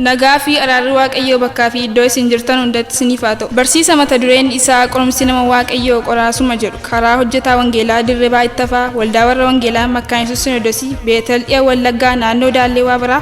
Nagaa fi araarri Waaqayyoo bakkaa fi iddoo isin jirtan hundatti isiniif haa ta'u. Barsiisa mata dureen isaa qorumsi nama Waaqayyoo qoraasuma jedhu karaa hojjetaa Wangeelaa Dirribaa Ittafaa Waldaa Warra Wangeelaa Makkaayinsuus Sinodosii Beetel Dhiya Wallaggaa Naannoo Daallee Waabaraa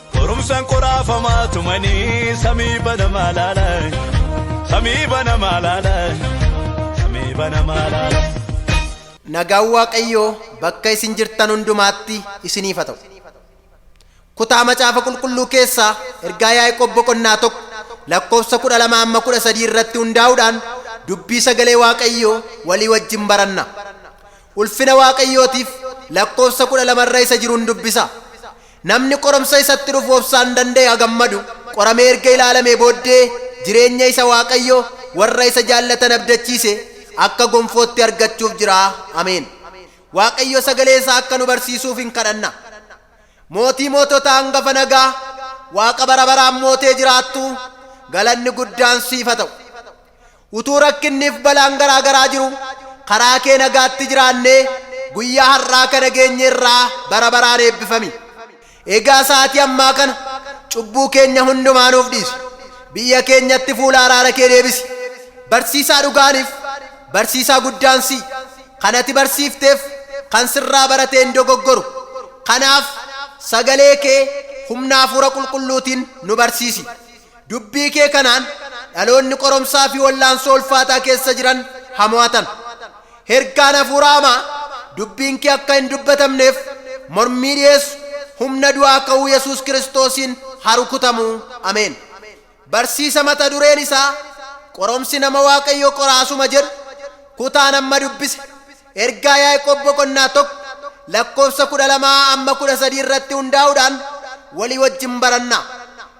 Qorumsaan qoraafamaa tumanii samii banamaa laala. Samii banamaa laala. Samii banamaa laala. Nagaan Waaqayyoo bakka isin jirtan hundumaatti isiniif haa ta'u. Kutaa macaafa qulqulluu keessaa ergaa Yaaqoob boqonnaa tokko lakkoofsa kudha lama amma kudha sadii irratti hundaa'uudhaan dubbii sagalee Waaqayyoo walii wajjin baranna. Ulfina Waaqayyootiif lakkoofsa kudha lama irra isa jiruun dubbisa. Namni qorumsa isatti dhufu obsaan danda'e haa gammadu, qoramee erga ilaalamee booddee jireenya isa Waaqayyo warra isa jaallatan abdachiise akka gonfootti argachuuf jira. Ameen. Waaqayyo sagalee isaa akka nu barsiisuuf in kadhanna. Mootii moototaa hangafa nagaa, Waaqa bara baraan mootee jiraattu, galanni guddaan siif haa ta'u. Utuu rakkinniif balaan garaa garaa jiruu karaa kee nagaatti jiraannee guyyaa har'aa kana geenye irraa bara baraan eebbifami. Egaa sa'aatii ammaa kana cubbuu keenya hundumaa nuuf dhiisi. Biyya keenyatti fuula araara kee deebisi. Barsiisaa dhugaaniif barsiisaa guddaan si'i. Kan ati barsiifteef kan sirraa barate hin dogoggoru. Kanaaf sagalee kee humna hafuura qulqulluutiin nu barsiisi. Dubbii kee kanaan dhaloonni qoromsaa fi wallaansoo ulfaataa keessa jiran ha mo'atan. Hergaan hafuura hamaa dubbiin kee akka hin dubbatamneef mormii dhiyeessu humna du'aa ka'uu Yesuus Kiristoosiin ha rukutamu. Ameen. Barsiisa mata dureen isaa Qoromsi Nama Waaqayyoo Qoraasuma jedhu kutaan amma dubbise Ergaa Yaaqoob boqonnaa 1 lakkoofsa 12 amma 13 irratti hundaa'uudhaan walii wajjin baranna.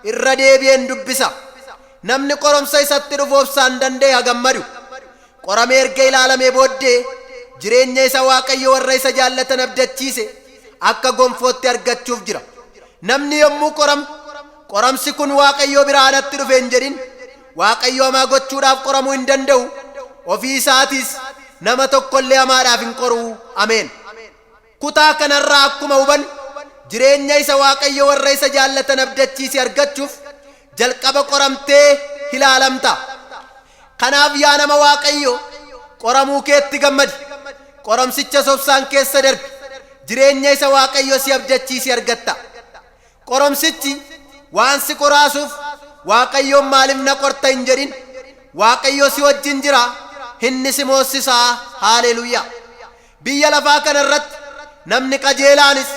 Irra deebi'een dubbisa. Namni qoromsa isatti dhufu obsaan danda'e haa gammadu. Qoramee erga ilaalamee booddee jireenya isa Waaqayyo warra isa jaallatan abdachiise akka gonfootti argachuuf jira. Namni yommuu qoramu, qoramsi kun Waaqayyoo biraa anatti dhufe hin jedhin. Waaqayyo hamaa gochuudhaaf qoramuu hin danda'u, ofii isaatiis nama tokko illee hamaadhaaf hin qoru. Ameen. Kutaa kana irraa akkuma hubannu, jireenya isa Waaqayyo warra isa jaallatan abdachiise argachuuf jalqaba qoramtee ilaalamta. Kanaaf yaa nama Waaqayyoo, qoramuu keetti gammadi. Qoramsichas obsaan keessa darbi. Jireenya isa Waaqayyo si abdachiise argatta. Qoromsichi waan si qoraasuuf Waaqayyoon maaliif na qorta hin jedhin. Waaqayyo si wajjin jira, inni si moossisa. Haaleeluyaa! Biyya lafaa kana irratti namni qajeelaanis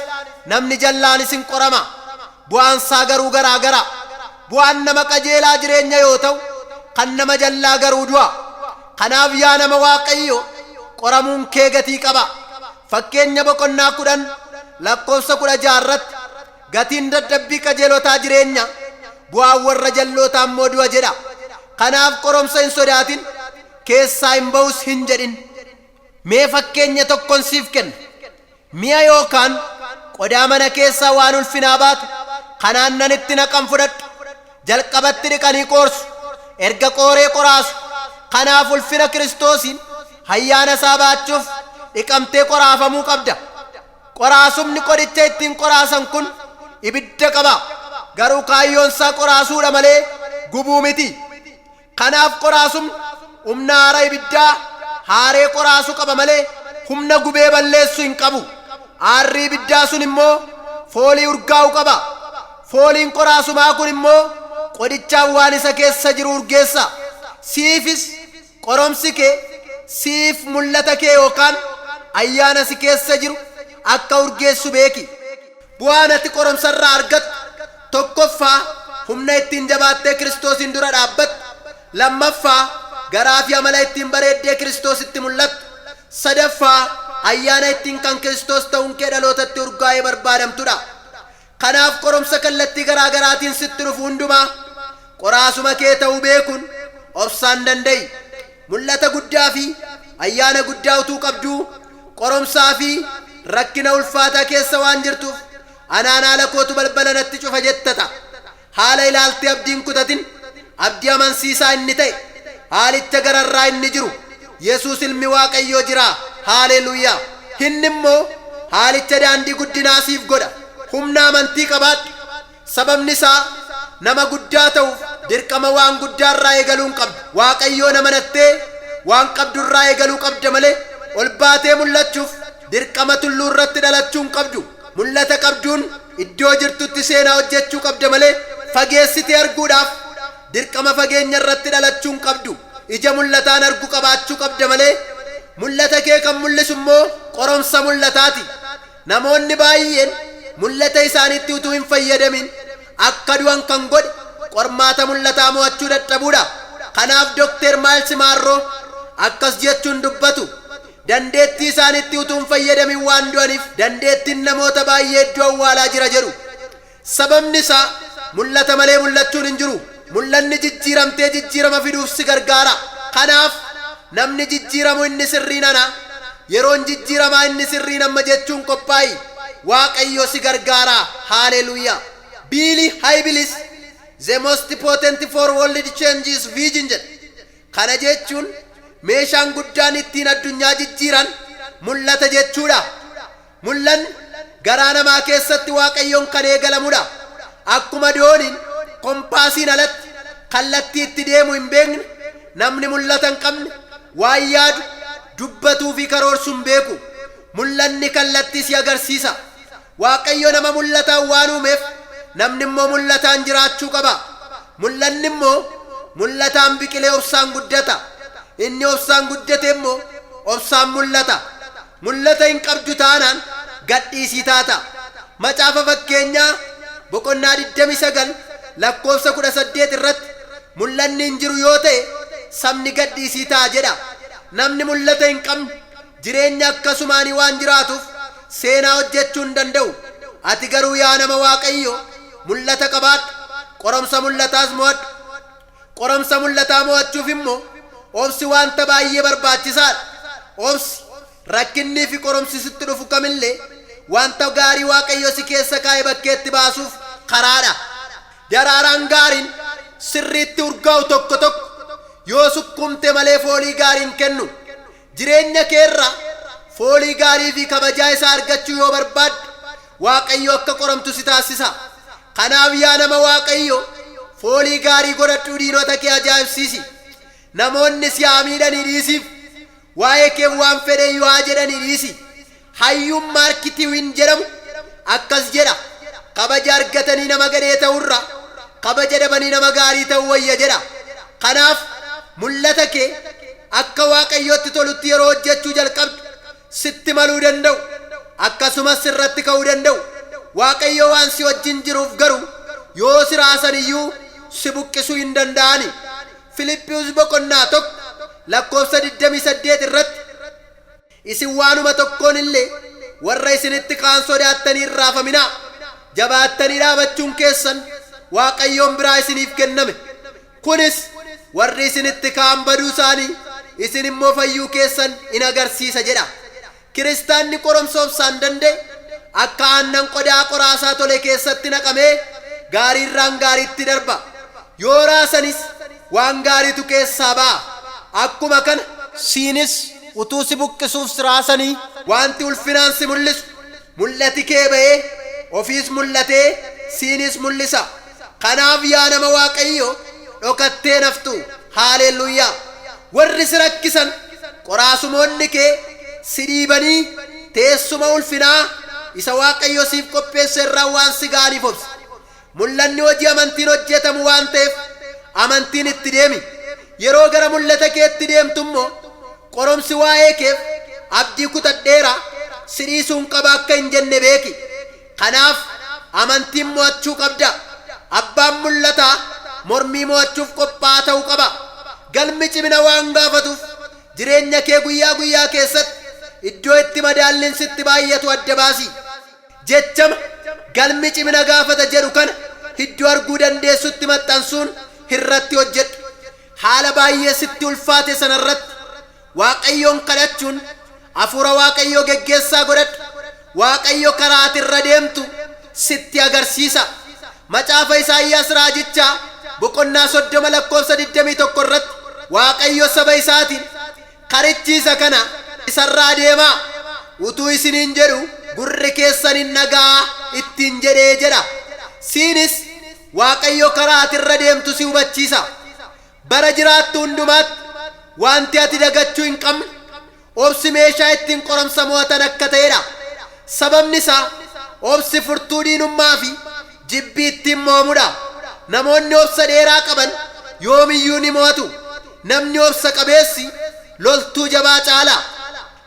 namni jallaanis in qorama. Bu'aan isaa garuu garaa gara. Bu'aan nama qajeelaa jireenya yoo ta'u, kan nama jallaa garuu du'a. Kanaaf yaa nama Waaqayyoo, qoramuun kee gatii qaba. Fakkeenya boqonnaa 10 lakkoofsa 16 irratti, Gatiin dadhabbii qajeelotaa jireenya, bu'aan warra jal'ootaa immoo du'a jedha. Kanaaf qoromsa hin sodaatin, keessaa hin ba'us hin jedhin. Mee fakkeenya tokkon siif kenna. Mi'a yookaan qodaa mana keessaa waan ulfinaa baate, kanaan nan itti naqan fudhadhu. Jalqabatti dhiqanii qoorsu, erga qooree qoraasu. Kanaaf ulfina Kiristoosiin hayyaana isaa baachuuf dhiqamtee qoraafamuu qabda. Qoraasumni qodicha ittiin qoraasan kun ibidda qaba, garuu kaayyoon isaa qoraasuu dha malee gubuu miti. Kanaaf qoraasumni humna aara ibiddaa haaree qoraasu qaba malee humna gubee balleessu hin qabu. Aarri ibiddaa sun immoo foolii urgaa'u qaba. Fooliin qoraasumaa kun immoo qodichaan waan isa keessa jiru urgeessa. Siifis qoromsi kee siif mul'ata kee yookaan ayyaana si keessa jiru akka urgeessu beeki. Bu'aan ati qorumsarraa argattu, tokkoffaa, humna ittiin jabaattee Kiristoosiin dura dhaabbattu, lammaffaa, garaafi amala ittiin bareeddee Kiristoositti mul'attu, sadaffaa, ayyaana ittiin kan Kiristoos ta'uunkee dhalootatti urgaa'ee barbaadamtudha. Kanaaf qorumsa kallattii garaa garaatiin sitti dhufu hundumaa qoraasuma kee ta'uu beekuun obsaan danda'i. Mul'ata guddaa fi ayyaana guddaa utuu qabduu, qorumsaa fi rakkina ulfaataa keessa waan jirtuuf, Anaan haala kootu balbala natti cufa jetta ta'a. Haala ilaaltee abdii hin kutatin. Abdii amansiisaa inni ta'e, haalicha gararraa inni jiru, Yesuus Ilmi Waaqayyoo jira! Haaleeluuyaa! Inni immoo haalicha daandii guddinaa siif godha. Humna amantii qabaadhu. Sababni isaa, nama guddaa ta'uuf dirqama waan guddaa irraa eegaluu hin qabdu. Waaqayyoon amanattee waan qabdu irraa eegaluu qabda malee, ol baatee mul'achuuf dirqama tulluu irratti dhalachuu hin qabdu. Mul'ata qabduun iddoo jirtutti seenaa hojjechuu qabda malee, fageessitee arguudhaaf dirqama fageenya irratti dhalachuu hin qabdu. Ija mul'ataan argu qabaachuu qabda malee, mul'ata kee kan mul'isu immoo qoromsa mul'ataati. Namoonni baay'een mul'ata isaaniitti utuu hin fayyadamin akka du'an kan godhe qormaata mul'ataa mo'achuu dadhabuudha. Kanaaf Dokteer Maayils Maarroo akkas jechuun dubbatu, Dandeettii isaaniitti utuu hin fayyadamin waan du'aniif dandeettiin namoota baay'ee iddoo awwaalaa jira jedhu. Sababni isaa, mul'ata malee mul'achuun hin jiru. Mul'anni jijjiiramtee jijjiirama fiduuf si gargaara. Kanaaf, namni jijjiiramu inni sirriin ana, yeroon jijjiiramaa inni sirriin amma jechuun qophaa'i. Waaqayyo si gargaara. Hallelujah! Biili Hayibilis The Most Potent for World Change is Vision jedha. Kana jechuun, meeshaan guddaan ittiin addunyaa jijjiiran mul'ata jechuu dha. Mul'anni, garaa namaa keessatti Waaqayyoon kan eegalamu dha. Akkuma dooniin kompaasiin alatti kallattii itti deemu hin beekne, namni mul'ata hin qabne waan yaadu, dubbatuu fi karoorsu hin beeku. Mul'anni kallattii si agarsiisa. Waaqayyo nama mul'ataan waan uumeef, namni immoo mul'ataan jiraachuu qaba. Mul'anni immoo mul'ataan biqilee obsaan guddata. Inni obsaan guddate immoo obsaan mul'ata. Mul'ata hin qabdu taanaan gadhiisii taata. Macaafa Fakkeenyaa boqonnaa 29 lakkoofsa 18 irratti mul'anni hin jiru yoo ta'e sabni gadhiisii ta'a jedha. Namni mul'ata hin qabne jireenya akkasumaanii waan jiraatuuf seenaa hojjechuu hin danda'u. Ati garuu yaa nama Waaqayyoo mul'ata qabaadhu, qoromsa mul'ataas mo'adhu. Qorumsa mul'ataa mo'achuuf immoo obsi wanta baay'ee barbaachisaa dha. Obsi, rakkinnii fi qorumsi sitti dhufu kam illee wanta gaarii Waaqayyo si keessa kaa'e bakkeetti baasuuf karaa dha. Daraaraan gaariin sirriitti urgaa'u tokko tokko yoo sukkuumte malee foolii gaarii hin kennu. Jireenya kee irraa foolii gaarii fi kabajaa isaa argachuu yoo barbaadde, Waaqayyo akka qoramtu si taassisa. Kanaaf yaa nama Waaqayyoo, foolii gaarii godhadhuu diinota kee ajaa'ibsiisi. Namoonni si haa miidhanii dhiisiif, waa'ee keef waan fedhe iyyuu haa jedhanii dhiisi. Hayyuun Maark Tiwiin jedhamu akkas jedha, Kabaja argatanii nama gadhee ta'urra, kabaja dhabanii nama gaarii ta'uu wayya jedha. Kanaaf, mul'ata kee akka Waaqayyotti tolutti yeroo hojjechuu jalqabdu, sitti maluu danda'u, akkasumas sirratti ka'uu danda'u. Waaqayyo waan si wajjin jiruuf garuu, yoo si raasan iyyuu si buqqisuu hin danda'ani. Filiphius boqonnaa 1 lakkoofsa 28 irratti. Isin waanuma tokkoon illee warra isinitti ka'an sodaattanii hin raafaminaa, jabaattanii dhaabachuun keessan Waaqayyoon biraa isiniif kenname. Kunis warri isinitti ka'an baduu isaanii, isin immoo fayyuu keessan in agarsiisa jedha. Kiristaanni qorumsa obsaan danda'e, akka aannan qodaa qoraasaa tole keessatti naqamee, gaarii irraan gaariitti darba. Yoo raasanis waan gaariitu keessaa ba'a. Akkuma kana. siinis utuu si buqqisuuf si raasanii. Wanti ulfinaan si mul'isu. Mul'ati kee ba'ee, ofiis mul'atee, siiniis mul'isa. Kanaaf yaa nama Waaqayyoo, dhokattee hin haftu. Haaleluyyaa! Warri si rakkisan, qoraasumoonni kee, si dhiibanii, teessuma ulfinaa isa Waaqayyo siif qopheesse irraa waan si ga'aniif obsi. Mul'anni hojii amantiin hojjetamu waan ta'eef amantiin itti deemi. Yeroo gara mul'ata keetti deemtu immoo qorumsi waa'ee keef abdii kutadheera, si dhiisuun qaba akka hin jenne beeki. Kanaaf amantiin mo'achuu qabda. Abbaan mul'ataa mormii mo'achuuf qophaa'aa ta'uu qaba. Galmi cimina waan gaafatuuf jireenya kee guyyaa guyyaa keessatti iddoo itti madaalliin sitti baay'atu adda baasi. Jechama, Galmi cimina gaafata jedhu kana iddoo arguu dandeessutti maxxansuun irratti hojjedhu. Haala baay'ee sitti ulfaate sana irratti Waaqayyoon kadhachuun Hafuura Waaqayyoo geggeessaa godhadhu. Waaqayyo karaa ati irra deemtu sitti agarsiisa. Macaafa Isaayyaas raajichaa boqonnaa 30 lakkoofsa 21 irratti Waaqayyo saba isaatiin, Karichi isa kana, isa irraa deemaa! Utuu isiniin jedhu gurri keessan hin dhaga'aa ittiin jedhee jedha. Siinis Waaqayyo karaa ati irra deemtu si hubachiisa. Bara jiraattu hundumaatti wanti ati dagachuu hin qabne, obsi meeshaa ittiin qorumsa mo'atan akka ta'edha. Sababni isaa obsi furtuu diinummaa fi Jibbi ittiin mo'amu dha. Namoonni obsa dheeraa qaban yoom iyyuu ni mo'atu. Namni obsa qabeessi loltuu jabaa caala.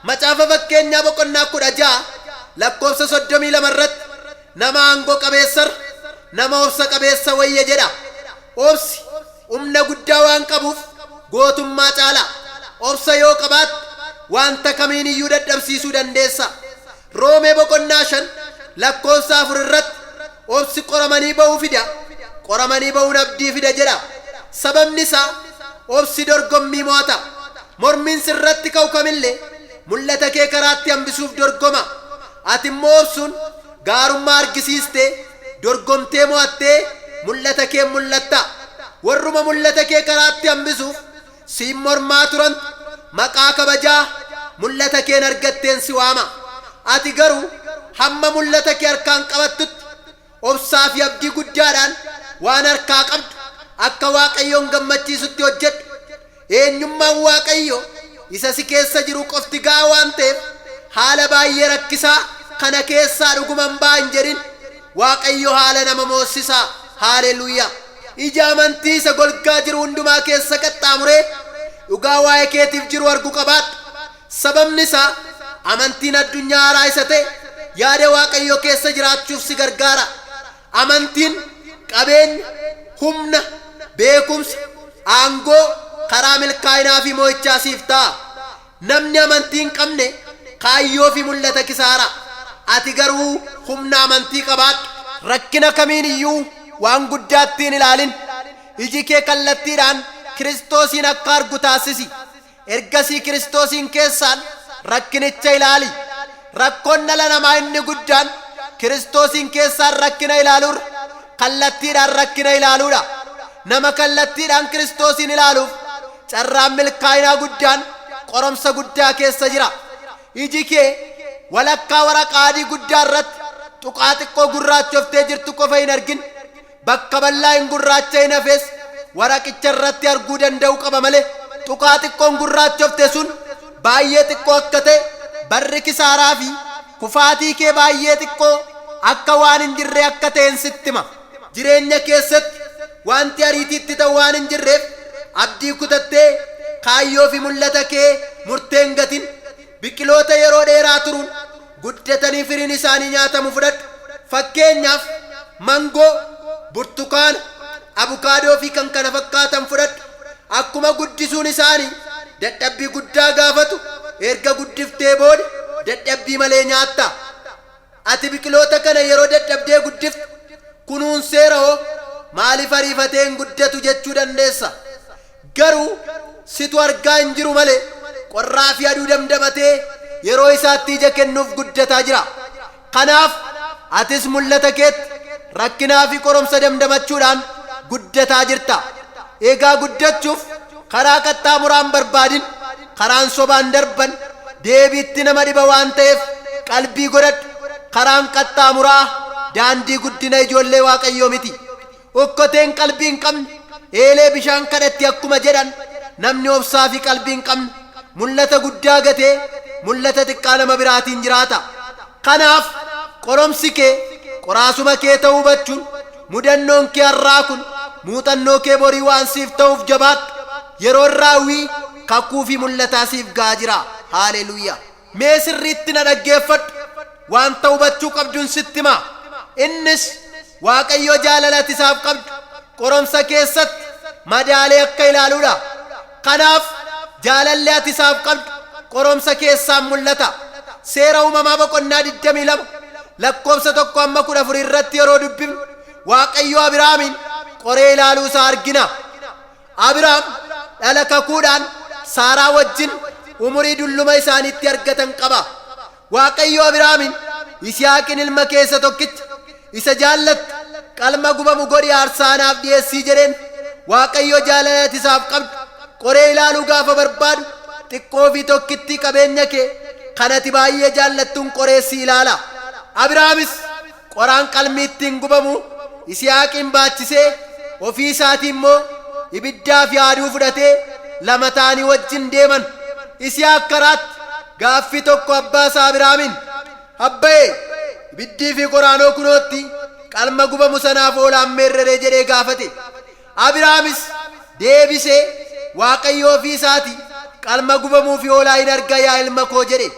Macaafa Fakkeenyaa boqonnaa 16 lakkoofsa 32 irratti nama aangoo qabeessa irra nama obsa qabeessa wayya jedha. Obsi humna guddaa waan qabuuf gootummaa caala. Obsa yoo qabaatte wanta kamiin iyyuu dadhabsiisuu dandeessa. Roomee boqonnaa 5 lakkoofsa 4 irratti obsi qoramanii ba'uu fida, qoramanii ba'uun abdii fida jedha. Sababni isaa obsi dorgommii mo'ata. Mormiin sirratti ka'u kamillee mul'ata kee karaatti hambisuuf dorgoma. Ati immoo obsuun gaarummaa argisiistee, dorgomtee mo'attee mul'ata keen mul'atta. Warruma mul'ata kee karaatti hambisuuf Siin mormaa turan, maqaa kabajaa mul'ata keen argatteen si waama. Ati garuu hamma mul'ata kee harkaan qabattutti obsaa fi abdii guddaadhaan waan harkaa qabdu akka Waaqayyoon gammachiisutti hojjedhu. Eenyummaan Waaqayyoo isa si keessa jiru qofti ga'aa waan ta'eef haala baay'ee rakkisaa kana keessaa dhuguman ba'a hin jedhin. Waaqayyo haala nama moossisa! Haaleluyyaa! Ija amantii isa golgaa jiru hundumaa keessa qaxxaamuree dhugaa waa'ee keetiif jiru argu qabaadhu. Sababni isaa, amantiin addunyaa haaraa isa ta'e yaada Waaqayyoo keessa jiraachuuf si gargaara. Amantiin, qabeenya, humna, beekumsa, aangoo, karaa milkaa'inaa fi mo'ichaa siif ta'a. Namni amantii hin qabne kaayyoo fi mul'ata kisaaraa. Ati garuu humna amantii qabaadhu. Rakkina kamiin iyyuu waan guddaatti hin ilaalin. Iji kee kallattiidhaan Kiristoosiin akka argu taassisi. Ergasii Kiristoosiin keessaan rakkinicha ilaali. Rakkoon dhala namaa inni guddaan Kiristoosiin keessaan rakkina ilaaluurra kallattiidhaan rakkina ilaaluudha. Nama kallattiidhaan Kiristoosiin ilaaluuf carraan milkaa'inaa guddaan qoromsa guddaa keessa jira. Iji kee walakkaa waraqaa adii guddaa irratti tuqaa xiqqoo gurraachoftee jirtu qofa hin argin. Bakka bal'aa hin gurraacha'in hafes waraqicha irratti arguu danda'uu qaba malee tuqaa xiqqoon gurraachofte sun baay'ee xiqqoo akka ta'e barri kisaaraa fi kufaatii kee baay'ee xiqqoo akka waan hin jirree akka ta'en sitti hima. Jireenya keessatti waanti ariitiitti ta'u waan hin jirreef abdii kutattee kaayyoo fi mul'ata kee murtee hin gatin. Biqiloota yeroo dheeraa turuun guddatanii firiin isaanii nyaatamu fudhadhu. Fakkeenyaaf, mangoo, burtukaana, abukaadoo fi kan kana fakkaatan fudhadhu. Akkuma guddisuun isaanii dadhabbii guddaa gaafatu, erga guddiftee booda dadhabbii malee nyaatta. Ati biqiloota kana yeroo dadhabdee guddiftu, kunuunseera hoo, maaliif ariifatee hin guddatu jechuu dandeessa. Garuu, situ argaa hin jiru malee, qorraa fi aduu damdamatee yeroo isaatti ija kennuuf guddataa jira. Kanaaf, atis mul'ata keetti rakkinaa fi qorumsa damdamachuudhaan guddataa jirta. Egaa guddachuuf karaa qaxxaamuraa hin barbaadin. Karaan sobaan darban deebiitti nama dhiba waan ta'eef qalbii godhadhu. Karaan qaxxaamuraa daandii guddina ijoollee Waaqayyoo miti. Okkoteen qalbii hin qabne eelee bishaan kadhatti akkuma jedhan namni obsaa fi qalbii hin qabne mul'ata guddaa gatee mul'ata xiqqaa nama biraatiin jiraata. Kanaaf qoromsi kee qoraasuma kee ta'uu hubachuun Mudannoon kee har'aa kun muuxannoo kee borii waan siif ta'uuf jabaadhu. Yeroon raawwii kakuu fi mul'ataa siif ga'aa jira. Haaleluyyaa! Mee sirriitti na dhaggeeffadhu. Wanta hubachuu qabdun sitti hima. Innis Waaqayyo jaalala ati isaaf qabdu qoromsa keessatti madaalee akka ilaaluudha. Kanaaf, jaalalli ati isaaf qabdu qoromsa keessaan mul'ata. Seera Uumamaa boqonnaa 22 lakkoofsa 1-14 irratti yeroo dubbifnu, Waaqayyo Abiraamiin qoree ilaaluu isaa argina. Abiraam dhala kakuudhaan Saaraa wajjin umurii dulluma isaaniitti argatan qaba. Waaqayyo Abiraamiin, Yisihaaqin ilma kee isa tokkicha, isa jaallattu, qalma gubamu godhii aarsaa anaaf dhi'eessii jedheen. Waaqayyo jaalala ati isaaf qabdu qoree ilaaluu gaafa barbaadu, xiqqoo fi tokkittii qabeenya kee kan ati baay'ee jaallattuun qoree si ilaala. Abiraamis, Qoraan qalmi ittiin gubamu Yisihaaqiin baachisee, ofii isaatii immoo ibiddaa fi haaduu fudhatee lama ta'anii wajjin deeman. Yisihaaq karaatti gaaffii tokko abbaa isaa Abiraamiin, Abbayee, ibiddii fi qoraanoo kunootti qalma gubamu sanaaf oolaan meerreree jedhee gaafate. Abiraamis deebisee, Waaqayyo ofii isaatii qalma gubamuu fi hoolaa in arga yaa ilma koo jedhe.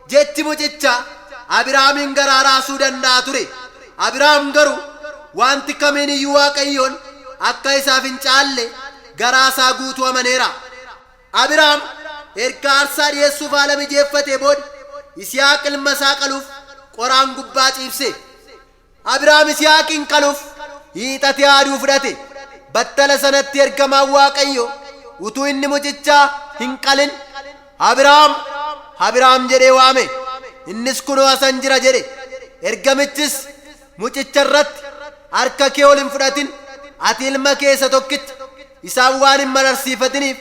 Jechi mucichaa Abiraamiin garaa raasuu danda'a ture. Abiraam garuu wanti kamiin iyyuu Waaqayyoon akka isaaf hin caalle garaa isaa guutuu amaneera. Abiraam erga aarsaa dhi'eessuuf haala mijeeffatee booda Yisihaaq ilma isaa qaluuf qoraan gubbaa ciibse. Abraam Yisihaaqiin qaluuf hiixatee haaduu fudhate. Battala sanatti ergamaan Waaqayyoo utuu inni mucichaa hin qalin, Abraam! Abraam! jedhee waame. Innis kunoo asan jira jedhe. Ergamichis mucicha irratti, Harka kee ol hin fudhatin, ati ilma kee isa tokkicha, isaan waan hin mararsiifatiniif,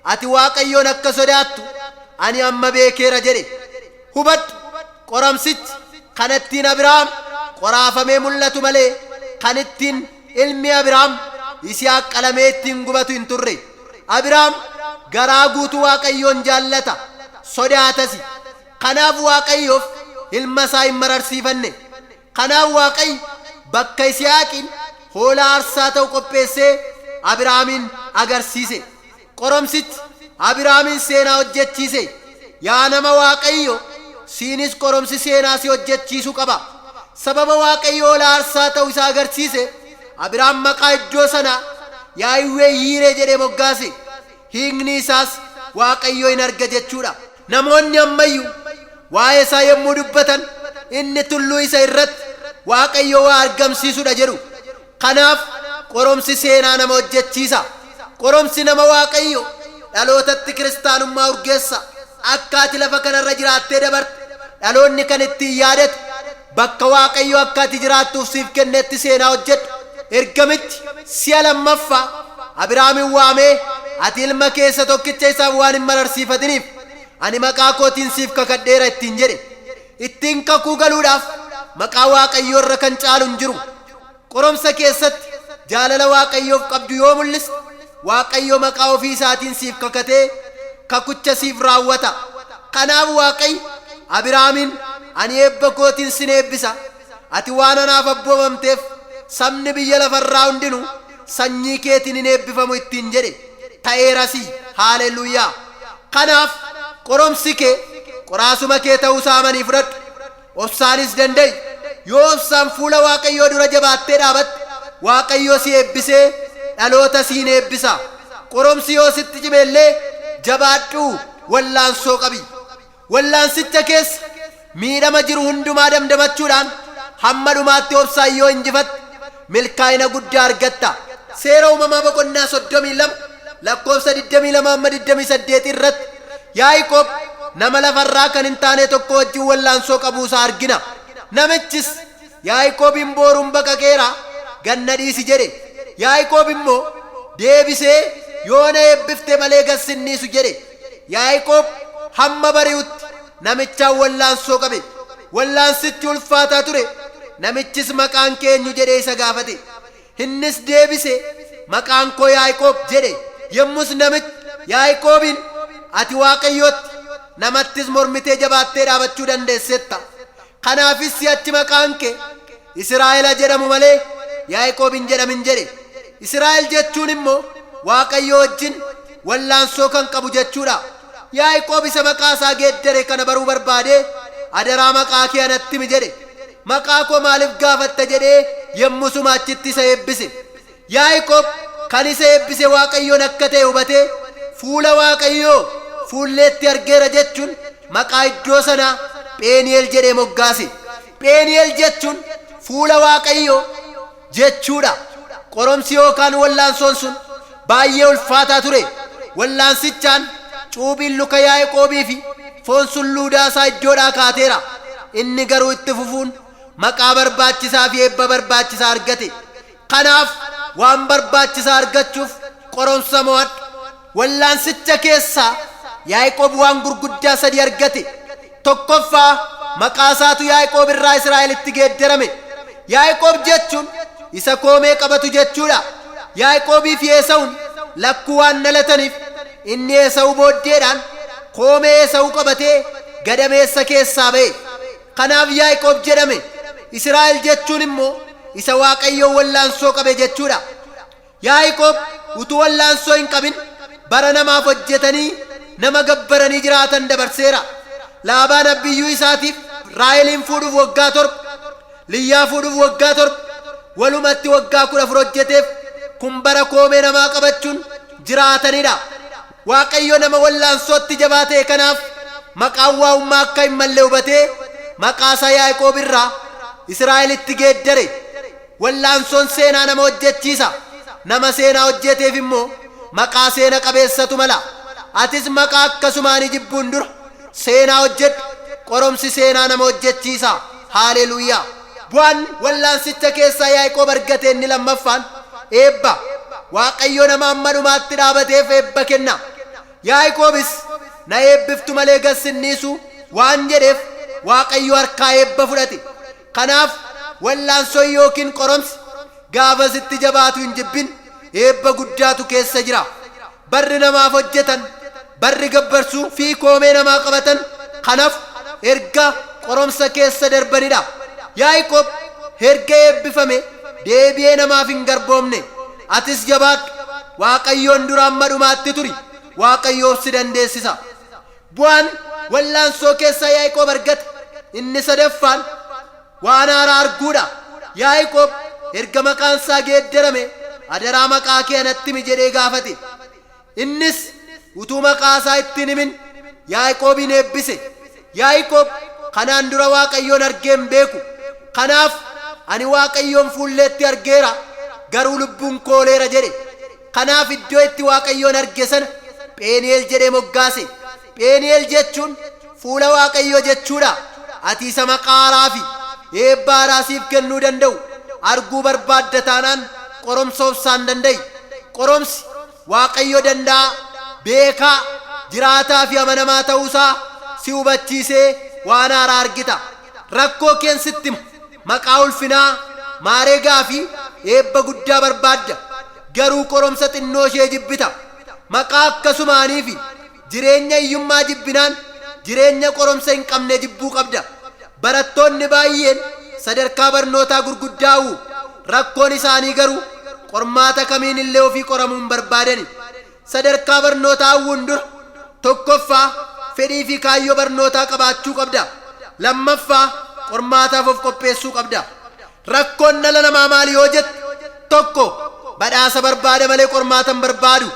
ati Waaqayyoon akka sodaattu ani amma beekeera jedhe. Hubadhu, qoramsichi kan ittiin Abiraam qoraafamee mul'atu malee kan ittiin ilmi Abiraam Yisihaaq qalamee ittiin gubatu hin turre. Abiraam garaa guutuu Waaqayyoon jaallata, sodaatasi. Kanaaf Waaqayyoof ilma isaa hin mararsiifanne. Kanaaf Waaqayyo bakka Yisihaaqiin hoolaa aarsaa ta'u qopheessee Abiraamiin agarsiise. Qorumsichi Abiraamiin seenaa hojjechiise. Yaa nama Waaqayyoo, siinis qorumsi seenaa si hojjechiisu qaba. Sababa Waaqayyo hoolaa aarsaa ta'u isa agarsiise, Abiraam maqaa iddoo sanaa Yaahiwwee Yiiree jedhee moggaase. Hiikni isaas Waaqayyo in arga jechuu dha. Namoonni amma iyyuu waa'ee isaa yommuu dubbatan, Inni tulluu isa irratti Waaqayyo waa argamsiisu dha jedhu. Kanaaf qorumsi seenaa nama hojjechiisa. Qorumsi nama Waaqayyo dhalootatti kiristaanummaa urgeessa. Akka ati lafa kana irra jiraattee dabarte dhaloonni kan ittiin yaadatu bakka Waaqayyo akka ati jiraattuuf siif kennetti seenaa hojjedhu. Ergamichi si'a lammaffaa Abiraamiin waamee ati ilma kee isa tokkicha isaaf waan hin mararsiifatiniif ani maqaa kootiin siif kakadheera ittiin jedhe. Ittiin kakuu galuudhaaf maqaa Waaqayyoo irra kan caalu hin jiru. jiru. Qorumsa keessatti jaalala Waaqayyoof qabdu yoo mul'iste, Waaqayyo maqaa ofii isaatiin siif kakatee kakucha siif raawwata. Kanaaf Waaqayyo Abiraamiin, Ani eebba kootiin sin eebbisa, ati waan anaaf abboomamteef sabni biyya lafa irraa hundinuu sanyii keetiin in eebbifamu ittiin jedhe, ta'eerasii! Haaleluyyaa! Kanaaf, qorumsi kee qoraasuma kee ta'uu isaa amanii fudhadhu. Obsaanis danda'i. Yoo obsaan fuula Waaqayyoo dura jabaattee dhaabatte, Waaqayyo si eebbisee dhaloota siin eebbisa. Qorumsi yoo sitti cime illee jabaadhuu wallaansoo qabi. Wallaansicha keessa miidhama jiru hundumaa damdamachuudhaan hamma dhumaatti obsaan yoo injifatte, Milkaa'ina guddaa argatta. Seera Uumamaa boqonnaa 32 lakkoofsa 22-28 irratti Yaaqoob nama lafa irraa kan hin taanee tokko wajjin wallaansoo qabuu isaa argina. Namichis, Yaaqoobiin booruun baqaqeera, gad na dhiisi jedhe. Yaaqoob immoo deebisee, Yoo na eebbifte malee gad sin dhiisu jedhe. Yaaqoob hamma bari'utti Namichaan wallaansoo qabe. Wallaansichi ulfaataa ture. Namichis maqaan kee eenyu jedhee isa gaafate. Innis deebise, Maqaan koo Yaaqoob jedhe. Yommus namichi Yaaqoobiin, Ati Waaqayyootti, namattis mormitee jabaattee dhaabachuu dandeessetta. Kanaafis si'achi maqaan kee. Isiraa'ela jedhamu malee Yaaqoob hin jedhamin jedhe. Isiraa'el jechuun immoo Waaqayyoo wajjin wallaansoo kan qabu jechuudha. Yaaqoob isa maqaa isaa geeddare kana baruu barbaadee adaraa maqaa kee anatti himi jedhe. Maqaa koo maaliif gaafatta jedhee yommusuma achitti isa eebbise. Yaaqoob kan isa eebbise Waaqayyoon akka ta'e hubatee, Fuula Waaqayyoo fuulleetti argeera jechuun maqaa iddoo sanaa Pheenii'el jedhee moggaase. Pheenii'el jechuun Fuula Waaqayyoo jechuu dha. Qorumsi yookaan wal'aansoon sun baay'ee ulfaataa ture. Wal'aansichaan cuuphiin luka Yaaqoobii fi foon sulluudaa isaa iddoodhaa kaateera. Inni garuu itti fufuun maqaa barbaachisaa fi eebba barbaachisaa argate. Kanaaf, waan barbaachisaa argachuuf qoromsa mo'adhu. Wallaansicha keessaa Yaaqoob waan gurguddaa sadii argate. Tokkoffaa, maqaasaatu Yaaqoob irraa Israa'elitti geeddarame. Yaaqoob jechuun isa koomee qabatu jechuudha. Yaaqoobiifi Eesawuun lakkuu waan dhalataniif, inni Eesawu booddeedhaan koomee Eesawu qabatee gadameessa keessaa ba'e. Kanaaf Yaaqoob jedhame. Isiraa'el jechuun immoo isa Waaqayyoon wallaansoo qabe jechuu dha. Yaaqoob utuu wallaansoo hin qabin bara namaaf hojjetanii nama gabbaranii jiraatan dabarseera. Laabaan abbiyyuu isaatiif Raaheliin fuudhuuf waggaa torba, Liyyaa fuudhuuf waggaa torba, walumatti waggaa 14 hojjeteef. Kun bara koomee namaa qabachuun jiraatani dha. Waaqayyo nama wallaansootti jabaa ta'e kanaaf maqaan waa'ummaa akka hin malle hubatee maqaa isaa Yaaqoob irraa Isiraa'elitti geeddare. Wallaansoon seenaa nama hojjechiisa. Nama seenaa hojjeeteef immoo maqaa seena qabeessatu mala. Atis maqaa akkasumaanii jibbuun dura seenaa hojjedhu. Qoromsi seenaa nama hojjechiisa. Haaleluuyaa! Bu'aan wallaansicha keessaa Yaaqoob argate inni lammaffaan eebba. Waaqayyo nama amma dhumaatti dhaabateef eebba kenna. Yaaqoobis, Na eebbiftu malee gad sin dhiisu waan jedheef Waaqayyo harkaa eebba fudhate. Kanaaf, wallaansoon ykn qoromsi gaafasitti jabaatu hin jibbin, eebba guddaatu keessa jira. Barri namaaf hojjetan, barri gabbarsu fi koomee namaa qabatan kan hafu erga qoromsa keessa darbani dha. Yaaqoob erga eebbifame deebi'ee namaaf hin garboomne. Atis jabaadhu, Waaqayyoon dura amma dhumaatti turi, Waaqayyoof si dandeessisa. Bu'aan wal'aansoo keessaa Yaaqoob argate inni sadaffaan, Waan haaraa arguu dha. Yaaqoob erga maqaan isaa geeddarame, Adaraa maqaa kee anatti himi jedhee gaafate. Innis utuu maqaa isaa itti hin himin Yaaqoobiin eebbise. Yaaqoob kanaan dura Waaqayyoon argee hin beeku. Kanaaf, Ani Waaqayyoon fuulleetti argeera, garuu lubbuun koo ooleera jedhe. Kanaaf iddoo itti Waaqayyoon arge sana Pheni'el jedhee moggaase. Pheni'el jechuun fuula Waaqayyoo jechuu dha. Ati isa maqaa haaraa fi eebba haaraa siif kennuu danda'u arguu barbaadda taanaan qoromsa obsaan danda'i. Qoromsi, Waaqayyo danda'aa, beekaa, jiraataa fi amanamaa ta'uu isaa si hubachiisee waan haaraa argita. Rakkoo keen sitti hima. Maqaa ulfinaa, maaregaa fi eebba guddaa barbaadda, garuu qoromsa xinnoo ishee jibbita. Maqaa akkasumaanii fi Jireenya hiyyummaa jibbinaan jireenya qoromsa hin qabne jibbuu qabda. Barattoonni baay'een sadarkaa barnootaa gurguddaa u'u. Rakkoon isaanii garuu qormaata kamiin illee ofii qoramuu hin barbaadani. Sadarkaa barnootaa u'uun dura tokkoffaa fedhii fi kaayyoo barnootaa qabaachuu qabda. Lammaffaa qormaataaf of qopheessuu qabda. Rakkoon dhala namaa maali yoo jette, 1, badhaasa barbaada malee qormaata hin barbaadu.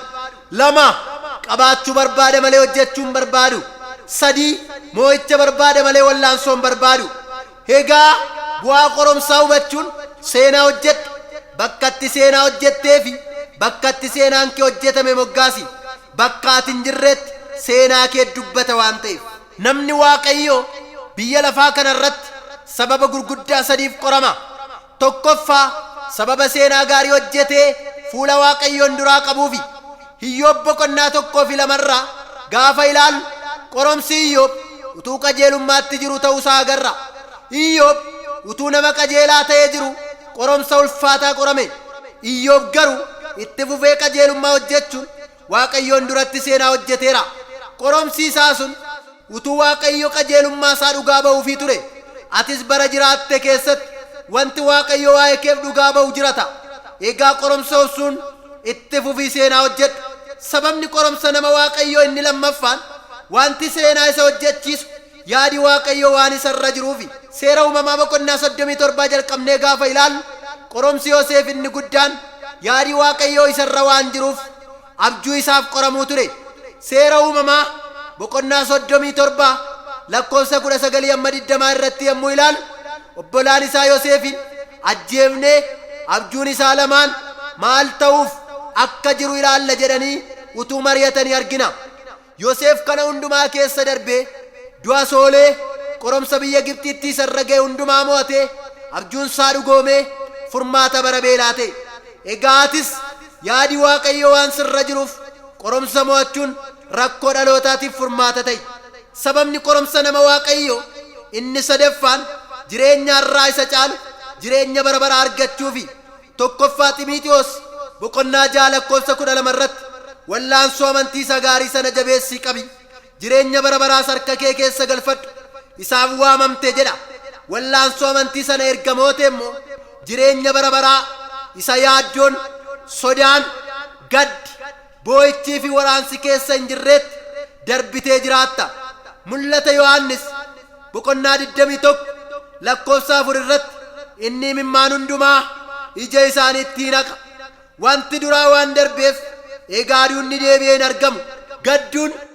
2, qabaachuu barbaada malee hojjechuu hin barbaadu. 3, moo'icha barbaada malee wallaansoo hin barbaadu. Egaa bu'aa qoromsaa hubachuun seenaa hojjedhu. Bakka itti seenaa hojjettee fi bakka itti seenaan kee hojjetame moggaasi. Bakka ati hin jirreetti seenaa kee dubbata waan ta'eef. Namni Waaqayyoo biyya lafaa kana irratti sababa gurguddaa sadiif qorama. Tokkoffaa, sababa seenaa gaarii hojjetee fuula Waaqayyoon duraa qabuufi. Iyyoob boqonnaa 1 fi 2 irraa gaafa ilaallu qoromsi Iyyoob utuu qajeelummaatti jiru ta'uu isaa agarra. Iyyoob utuu nama qajeelaa ta'ee jiruu qoromsa ulfaataa qorame. Iyyoob garuu itti fufee qajeelummaa hojjechuun Waaqayyoon duratti seenaa hojjeteera. Qoromsi isaa sun utuu Waaqayyo qajeelummaa isaa dhugaa ba'uufii ture. Atis bara jiraatte keessatti wanti Waaqayyo waa'ee keef dhugaa ba'u jirata. Egaa qoromsa obsuun itti fufii seenaa hojjedhu. Sababni qoromsa nama Waaqayyoo inni lammaffaan wanti seenaa isa hojjechiisu, Yaadi Waaqayyoo waan isa irra jiruufi. Seera Uumamaa boqonnaa 37 jalqabnee gaafa ilaallu, qoromsi Yoseef inni guddaan yaadi Waaqayyoo isa irra waan jiruuf abjuu isaaf qoramuu ture. Seera Uumamaa boqonnaa 37 lakkoofsa 19-20 irratti yommuu ilaallu, obbolaan isaa Yoseefiin ajjeefnee abjuun isaa lamaan maal ta'uuf akka jiru ilaalla jedhanii utuu mari'atanii argina. Yoseef kana hundumaa keessa darbee, du'a soolee, qoromsa biyya Gibxiitti isa irra ga'e hundumaa mo'atee, abjuun isaa dhugoomee, furmaata bara beelaa ta'e. Egaa atis, yaadi Waaqayyoo waan sirra jiruuf, qoromsa mo'achuun rakkoo dhalootaatiif furmaata ta'i. Sababni qoromsa nama Waaqayyoo inni sadaffaan, jireenya har'aa isa caalu, jireenya bara baraa argachuufi. 1ffaa Ximiitewos boqonnaa 6 lakkoofsa 12 irratti, Wal'aansoo amantii isa gaarii sana jabeessii qabi, jireenya bara baraas harka kee keessa galfadhu, isaaf waamamte jedha. Wal'aansoo amantii sana erga moote immoo, jireenya bara baraa isa yaaddoon, sodaan, gaddi, boo'ichii fi waraansi keessa hin jirreetti darbitee jiraatta. Mul'ata Yohaannis boqonnaa 21 lakkoofsa 4 irratti inni imimmaan hundumaa ija isaaniitti in haqa. Wanti duraa waan darbeef egaa duunni deebi'ee hin argamu. Gadduun.